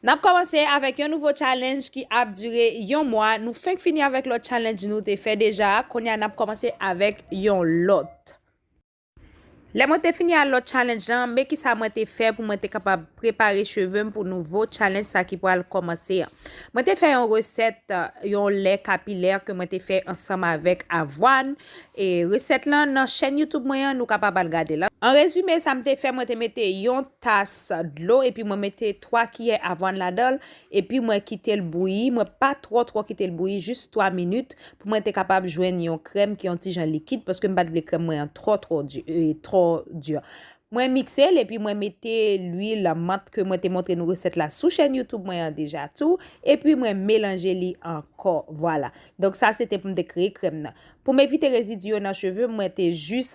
Nap kòmanse avèk yon nouvo challenge ki ap dure yon mwa, nou fenk fini avèk lòt challenge nou te fè deja, kounye a nap kòmanse avèk yon lòt. Lè mwen te fini a lòt challenge lan, men kisa mwen te fè pou mwen te kapab prepare cheve m pou nouvo challenge sa ki pral kòmanse an. Mwen te fè yon resèt yon lè kapilè ke mwen te fè ansanm avèk avwàn, E resèt lan nan chèn YouTube mwen an, nou kapab al gade l. An rezime, sa m te fè, mwen te mete yon tas dlo epi mwen mete 3 kiyè avwàn ladan l, epi mwen kite l bouyi, mwen pa twò twò kite l bouyi, jis 3 minit, pou mwen te kapab jwenn yon krèm ki yon ti jan likid, paske m pa t vle krèm mwen an twò twò di. Mwen mikse l epi mwen mete lwil mant ke mwen te montre nou resèt la sou chèn YouTube mwen an deja tou, epi mwen melanje li ankò. Vwala. Donk sa se te pou m te kreye krèm nan. Pou m evite rezidi yo nan cheve m mwen te jis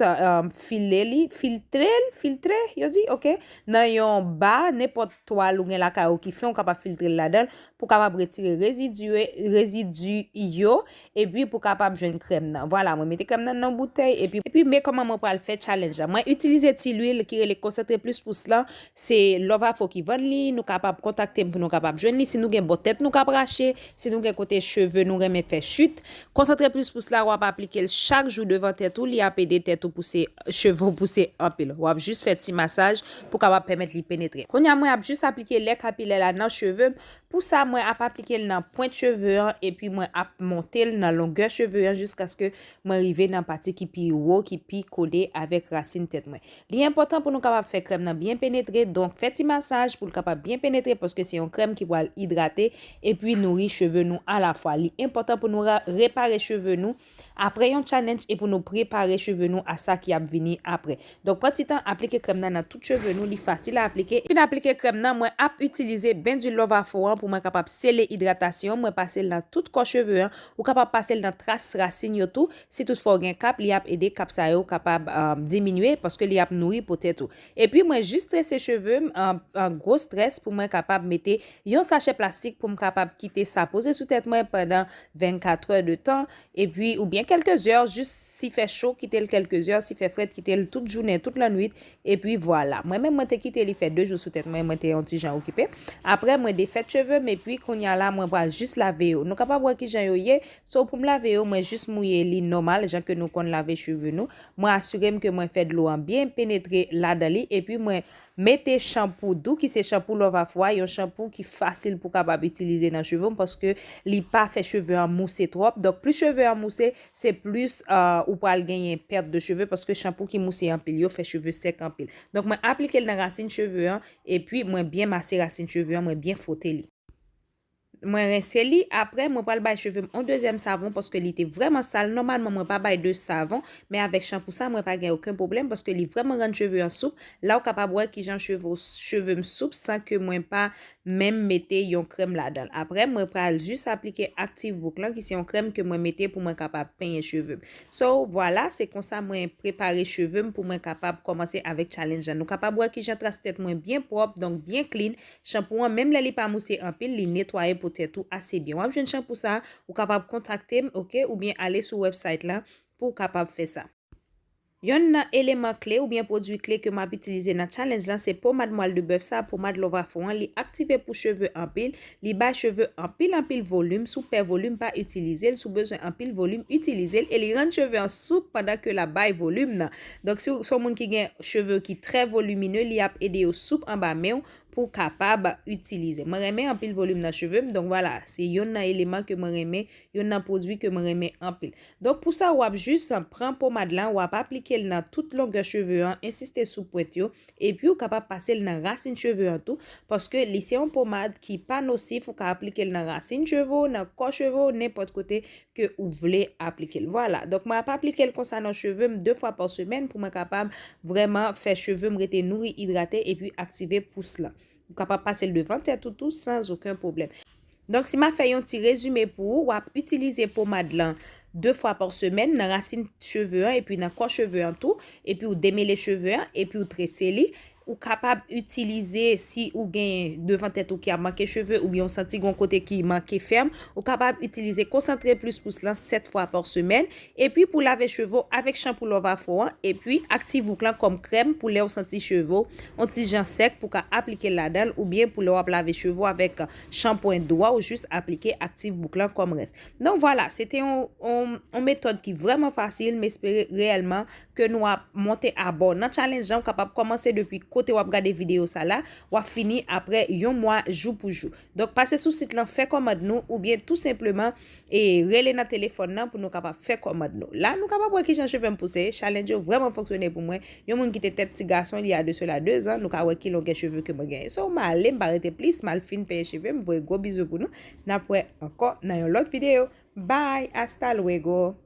file li, filtre l, filtre yo di? ok, nan yon ba, nenpòt twal ou gen lakay ou ki fen ou kapab filtre l ladan l pou w kapab retire rezidi, rezidi yo epi pou w kapab jwenn krèm nan. Vwala mwen mete krèm nan nan yon boutèy epi. Epi men kòman mwen pral fè challenge la. Mwen itilize ti lwil ki rele Concentré Plus Pousse lan Se Lovafo ki vann li, nou kapab kontakte m pou nou kapab jwenn li, si nou gen bò tèt nou kap rache, si nou gen kote cheve nou renmen fè chute, konsantre plis pous la wap aplike l chak jou devan tèt ou li ap ede tèt ou pouse cheve w pouse anpil wap jis fè ti masaj pou kapab pèmèt li penetre. Kounya mwen ap jis aplike lè kapilè la nan cheve m, pou sa mwen ap aplike l nan pwent cheve an epi mwen ap monte l nan longè cheve an jiskaske mwen rive nan pati ki pi wo ki pi kole avèk rasin tèt mwen. Li enpòtan pou nou kapab fè krèm nan byen penetre donk fè ti masaj pou l kapab byen penetre paske se yon krèm ki pral idrate epi nouri cheve nou alafwa. Li enpòtan pou nou repare cheve nou apre yon challenge e pou nou prepare cheve nou a sa ki ap vini apre. Donk pran ti tan aplike krèm nan nan tout cheve nou, li fasil a aplike. Fin aplike krèm nan, mwen ap itilize ben dwil love afro an pou mwen kapab sele idratasyon, mwen pase l nan tout kò cheve an, ou kapab pase l nan tras rasin yo tou, Si tout fwa ou gen kap li ap ede kap sa yo kapab diminye paske li ap nouri po tèt ou. Epi mwen jis trese cheve m an gwo strès pou mwen kapab mete yon sachè plastik pou m kapab kite sa poze sou tèt mwen pandan 24 è de tan epi oubyen kèlke zè jis si fè cho kite l kèlke zè si fè frèt kite l tout jounen tout lannwit epi vwala. Mwen menm mwen te kite li fè 2 jou sou tèt mwen mwen te yon ti jan okipe aprè mwen defèt cheve m epi kounya la mwen pral jis lave yo nou kapab wè kijan yo ye So pou m lave yo, mwen jis mouye li nòmal jan ke nou konn lave cheve nou. Mwen asire m ke mwen fè dlo an byen penetre ladan li epi mwen mete chanpou dou ki se chanpou Lovafwa, yon chanpou ki fasil pou kapab itilize nan cheve m paske li pa fè cheve an mouse twòp. Donk plis cheve an mouse, se plis ou pral genyen pèt de cheve paske chanpou ki mouse anpil yo fè cheve sèk anpil. Donk mwen aplike l nan rasin cheve an epi mwen byen mase rasin cheve an, mwen byen fwote li. Mwen rense li, aprè mwen pral bay cheve m on dezyèm savon paske li te vrèman sal, nòmalman mwen pa bay 2 savon, men avèk chanpou sa mwen pa gen oken pwoblèm paske li vrèman rann cheve an soup, la w kapab wè kijan cheve w cheve m soup san ke mwen pa menm mete yon krèm ladan l, aprè mwen pral jis aplike aktiv bouk lan ki se yon krèm ke mwen mete pou mwen kapab penyen cheve m so vwala se konsa mwen prepare cheve m pou mwen kapab kòmanse avèk challenge lan nou kapab wè kijan tras tèt mwen byen pwòp donk byen clean Chanpou an menm lè li pa mouse anpil li netwaye po tèt ou ase byen. Wap jwenn chanpou sa ou kapab kontakte m ok oubyen ale sou website la pouw kapab fè sa. Yonn nan eleman kle oubyen pwodwi kle ke map itilize nan challenge lan se pomad mwal de bèf sa pomad love afro an li aktive pou cheve anpil li bay cheve anpil anpil volim sou pè volim pa itilizel sou bezwen anpil volim itilizel e li rann cheve an soup pandan ke lap bay volim nan Donk si w se yon moun ki gen cheve ki trè volumineux li ap ede yo soup anba men w pou w kapab itilize. Mwen renmen anpil volume nan cheve m donk vwala se yonn nan eleman ke mwen renmen yonn nan pwodwi ke mwen renmen anpil. Donk pou sa wap jis pran pomad lan wap aplike l nan tout longè cheve an ensiste sou pwent yo epi w kapab pase l nan rasin cheve an tou paske li se yon pomad ki pa nosif ou ka aplike l nan rasin cheve w nan kò cheve w nenpòt kote ke ou vle aplike l. Vwala. Donk mwen ap aplike l konsa nan cheve m 2 fwa pa semèn pou mwen kapab vrèman fè cheve m rete nouri, idrate epi aktive pous lan. Ou kapab pase l devan tèt ou tou san oken pwoblèm. Donk si m ap fè yon ti rezime pou ou, w ap itilize pomad lan 2 fwa pa semèn nan rasin cheve an epi nan kò cheve an tou, epi ou demele cheve an, epi ou trese li, Ou kapab itilize si ou gen devan tèt ou ki ap manke cheve oubyen ou santi gen yon kote ki manke fèm, ou kapab itilize Concentré Plus Pousse lan 7 fwa pa semèn, epi pou lave cheve w avèk chanpou Love Afro an, epi Activouk lan kòm krèm pou lè ou santi cheve w yon ti jan sèk pou ka aplike l ladan l oubyen pou lè w ap lave cheve w avèk chanpwen dwa w jis aplike Activouk lan kòm rens. Donk vwala, se te yon metòd ki vrèman fasil, m espere reyèlman ke nou ap monte a bò nan challenge lan ou kapab kòmanse depi kote wap gade video sa la wap fini aprè yon mwa jou pou jou donk pase sou sit lan fè kòmand nou oubyen tou senpleman e rele nan telefòn nan pou nou kapab fè kòmand nou la nou kapab wè kijan chevem pouse challenge yo vrèman fonksyone pou mwen yon moun ki te tèt ti gason il ya de sela 2 zan nou ka wè ki longè cheve ke mwen genyen so male mpa rete plis mal fin peye chevem voye gwo bizou pou nou nap wè ankò nan yon lòt video bye hasta luego.